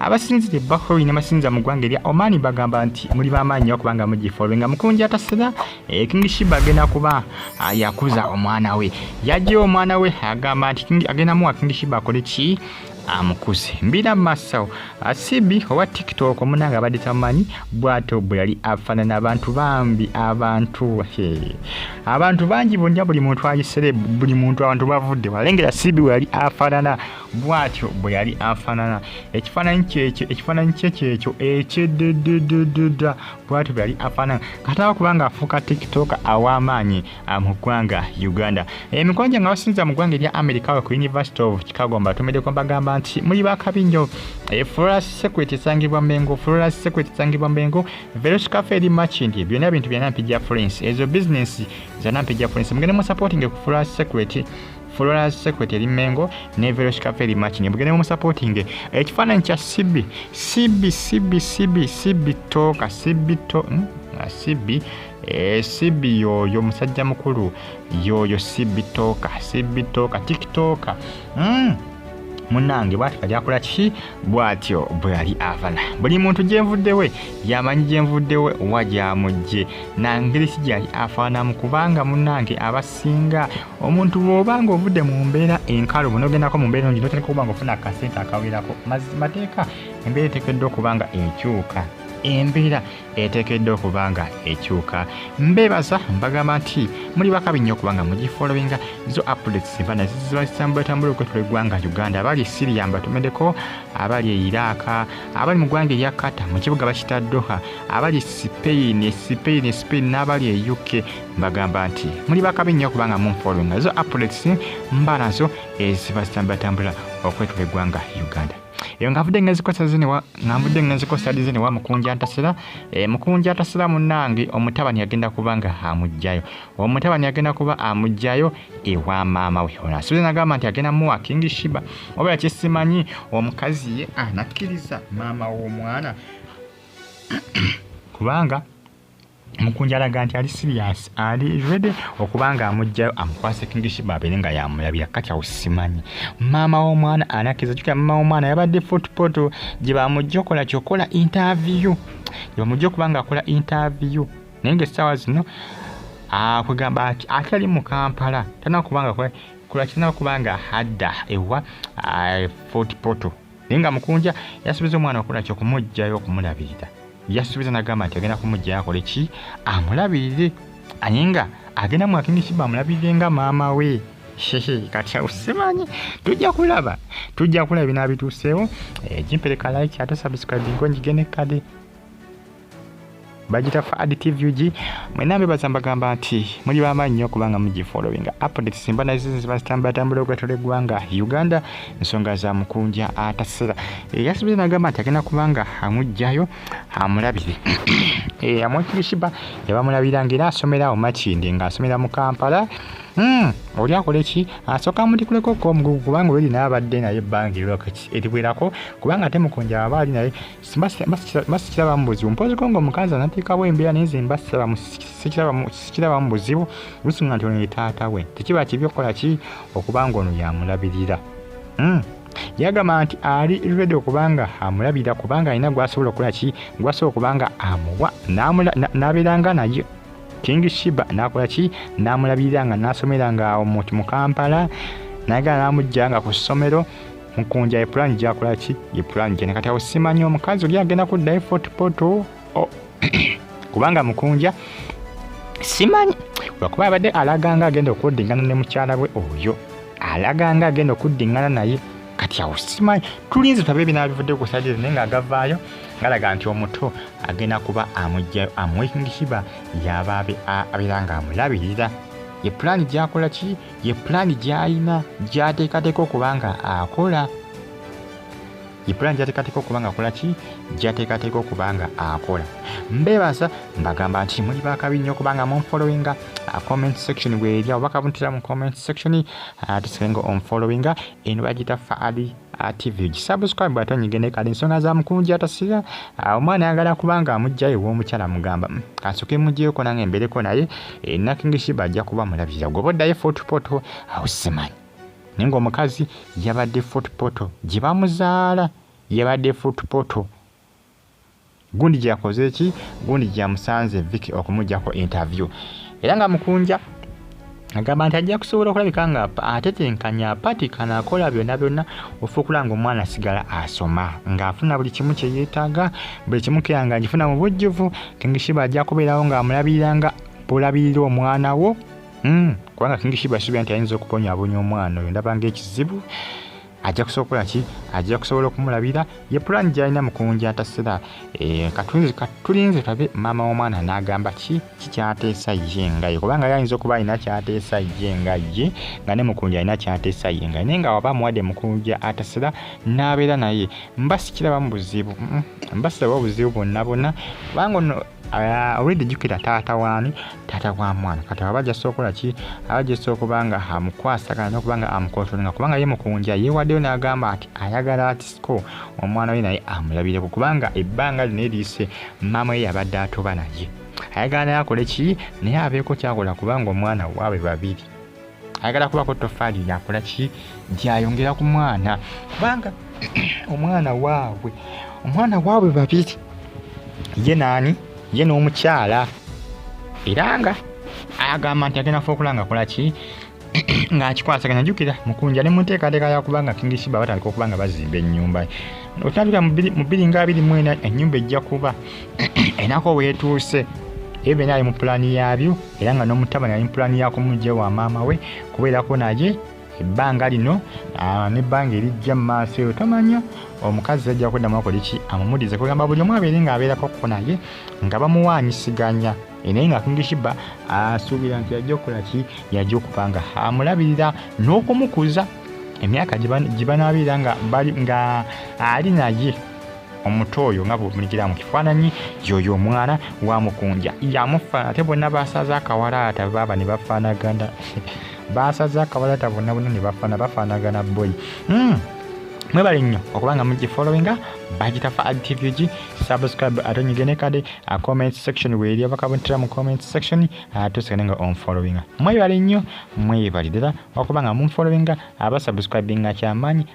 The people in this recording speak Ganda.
abasinzira ebbahori ne basinza mu ggwanga erya omani bagamba nti muli bamaanyi nyo kubanga mugifolwe nga mukunja tasira eh, king shiba agenda kuba ah, yakuza omwana we yajjayo omwana we agamba nti agenda muwa king shiba akole ki amukuze mbira masawo asibi owa tiktok omunanga abadde tamanyi bwato bwe yali afaanana abantu bambi abantu abantu bangi bonna buli muntu ayisere buli muntu abantu bavudde walengera sibi we yali afaanana bw'atyo bwe yali afaanana ekifaananyi kyekyo ekifaananyi kye kyekyo ekyedededededa bw'atyo bwe yali afaanana kataba kuba nga afuuka tiktoka aw'amaanyi ah, mu ggwanga uganda emikono gye nga basinza mu ggwanga erya america we ku university of chicago mbatumideko mbagamba nti muli bakabi nnyo eh, flora secret esangibwa mengo flora secret esangibwa mengo veroskafe eri machindi byonna bintu bya nampijja florence ezo bizinesi za nampijja florence mugende mu supporting ku flora secret Florence Secret eri Mengo ne Verosh Kaferi match ne bugende mu supporting ekifaananyi kya CB CB CB CB CB to ka CB to hmm? ah, CB eh, CB yoyo musajja mukulu yoyo CB toka CB toka tiktoka mm. munange bwati kali akola kiki bwatyo bwe yali avana buli muntu gyenvuddewe yamanyi gyenvuddewe wa gyamujje nangeri si gyali afaanamu kubanga munange abasinga omuntu bwoba nga ovudde mu mbeera enkalubu nogendako mu mbeera engi notandika okuba nga ofuna akasente akawerako mateeka embeera etekeddwa okuba nga ekyuka embeera etekeddwa okuba nga ekyuka mbebaza mbagamba nti muli bakabi nnyo okuba nga mugifolowinga zo updates mba nazo ziba zitambulatambula okwetula eggwanga uganda abali e siria mbatumedeko abali e iraaka abali mu ggwanga erya kata mu kibuga bakita doha abali e sipeini e sipeini e sipeini n'abali e uk mbagamba nti muli bakabi nnyo kubanga munfollowinga ezo updates mbala nso ezibatambulatambula okwetula eggwanga uganda eyo nga nvudde ngenzikosa zinewa nga nvudde ngenzikosa di zinewa mukunja ntasira e, eh, mukunja ntasira munange omutabani yagenda kuba nga amugjayo omutabani yagenda kuba amugjayo ewa maama we ona suze nagamba nti agenda muwa king shiba oba yakisimanyi omukazi ye anakkiriza maama w'omwana kubanga mukunja alaga nti ali serious ali ready okuba nga amugjayo amukwase kingishiba abeere nga yamulabira kati awo simanyi maama w'omwana anakiriza kyokera maama w'omwana yabadde footpoto gye bamujja okola kyokola interview gye bamujja okuba nga akola interview naye nga essaawa zino akwegamba ah, ati ate ali mu kampala tanakuba nga kulakirina okuba nga hadda ewa ah, footpoto naye nga mukunja yasubiza omwana okola ki okumugjayo okumulabirira yasubiza nagamba nti agenda kumugjayo akole ki amulabirire aye nga agenda mwakinisiba amulabirire nga maama we kati awo simanyi tujja kulaba tujja kulaba binaabituuseewo ekimpereka eh, like ate subscribingo njigene kade bagita fad tvg mwena mbebaza mbagamba nti muli bamaanyi nyo kubanga mugifollowinga updates simba nazizibazitambatambula ogatula eggwanga uganda nsonga za mukunja atasera eyasibize eh, nagamba nti agenda kubanga amugjayo amulabire eh, amwekibishiba yabamulabira ngaera asomera awo makindi nga asomera mu kampala hmm, oli akola eki asooka amudikuleko okomugugu kubanga oli naye abadde naye ebbanga eriwerako kubanga ate mukunja aba ali naye sikiraba mu buzibu mpozeko nga omukazi anatiikawo embeera naye nze mba sikiraba mu buzibu lusinga nti ono ye taata we tekiba kibi okukola ki okuba nga ono yamulabirira hmm. yagamba nti ali redi okubanga amulabirira kubanga alina gwasobola okukola ki gwasobola okubanga amuwa n'abeeranga naye king shiba n'akola ki n'amulabirira nga n'asomera nga mu kampala nagala n'amujja nga ku ssomero mukunja ye plan gyakola ki ye plan gye nakati awo simanyi omukazi oli agenda kuddayo fort poto oh. kubanga mukunja simanyi lwakuba abadde alaganga agenda okuddingana ne mukyala we oyo alaganga agenda okuddingana naye kati awo simanyi tulinze tabe ebinabivudde ku sadire naye nga agavaayo ngalaga nti omuto agenda kuba amujjayo amwekingishiba yabaabe abeera nga amulabirira ye pulaani gyakola ki ye pulaani gy'alina gy'ateekateeka okuba nga akola ye pulaani gy'ateekateeka okuba nga akola ki gy'ateekateeka okuba nga akola mbeebaza mbagamba nti muli bakabi nnyo kubanga munfollowinga uh, comment section bwerya obakabuntira mu comment section uh, tusikenga onfollowinga eno bagita faali TV gisubscribe ate onyige ne kale ensonga za mukunja tasira ah, omwana ayagala kubanga amujja ewa omukyala mugamba mm, kansoke mujjeko nange embereko naye eh, nakingishiba ajja kuba mulabirira gwoba oddayo footpoto awusimanyi naye ngaomukazi yabadde footpoto gye bamuzaala yabadde footpoto Gundi gyakoze ki? Gundi gyamusanze Vic okumujjako interview era nga Mukunja agamba nti ajja kusobola okulabika nga atetenkanya apatikana akola byonna byonna ofuukula nga omwana asigala asoma ng'afuna buli kimu kye yeetaaga buli kimu keya nga ngifuna mu bujjuvu kingishiba ajja kubeerawo ng'amulabirira nga bwolabirira omwana wo hmm, kubanga kingishiba asuubira nti ayinza okubonyabonya omwana oyo ndabanga ekizibu ajja kusobola ki ajja kusobola okumulabira ye pulani gyalina mukunja atasira eh, katulinze katulinze tabe maama w'omwana n'agamba ki kikyateesa ye nga ye kubanga yayinza okuba alina kyateesa ye nga ye nga ne mukunja alina kyateesa ye nga naye nga waba amuwadde mukunja atasira n'abeera naye mba sikiraba mu buzibu mm, mba siraba obuzibu bwonna bwonna kubanga ono Ah, already jukira taata waani taata wa mwana kati aba bajasa okola ki aba jasa okuba nga amukwasagana nokuba nga amukontrolinga kubanga ye mukunja yewaddeyo n'agamba ati ayagala ati siko omwana we naye amulabireko kubanga ebbanga lino eriise maama ye yabadde atoba naye ayagala naye akole ki naye abeeko kyakola kubanga omwana waabwe babiri ayagala kubako tofaali yakola ki gyayongera ku mwana kubanga omwana waabwe omwana waabwe babiri ye naani ye n'omukyala era nga agamba nti agenda fuukula nga akola ki ng'akikwasaganya jjukira mukunja ne mu nteekateeka yakuba nga kingisiba batandika okuba nga bazimba ennyumba otandika mu bbiri nga abiri mu ena ennyumba ejja kuba enako weetuuse ebyo byonna ali mu pulaani yaabyo era nga n'omutabani ali mpulani yakumujja wa maama we kubeerako naye ebbanga lino ah, nebbanga erijja mumaaso eyo tomanya omukazi ajja kuddamu akoleki amumudize kugamba buli omu abeere ngaabeerako kuko naye nga bamuwanyisiganya eh, naye nga kingishiba asuubira nti yajja okukolaki yajja okuba nga amulabirira n'okumukuza emyaka gibanabeera nga ali naye omuto oyo nga bwomulekera mu kifaananyi yoyo omwana wa mukunja yamufaana ate bonna basaza akawalaata baaba ne bafaanagana basaza akawalaata bonna bonna ne bafaana bafaanagana boy hmm. mwebale nnyo okuba nga mugifollowinga bagita fa adtvg subscribe ate onyige ne kade a comment section weeri abakabuntira mu comment section atusigane nga onfollowinga mwebale nnyo mwebale ddala okuba nga munfollowinga abasubscribinga kyamaanyi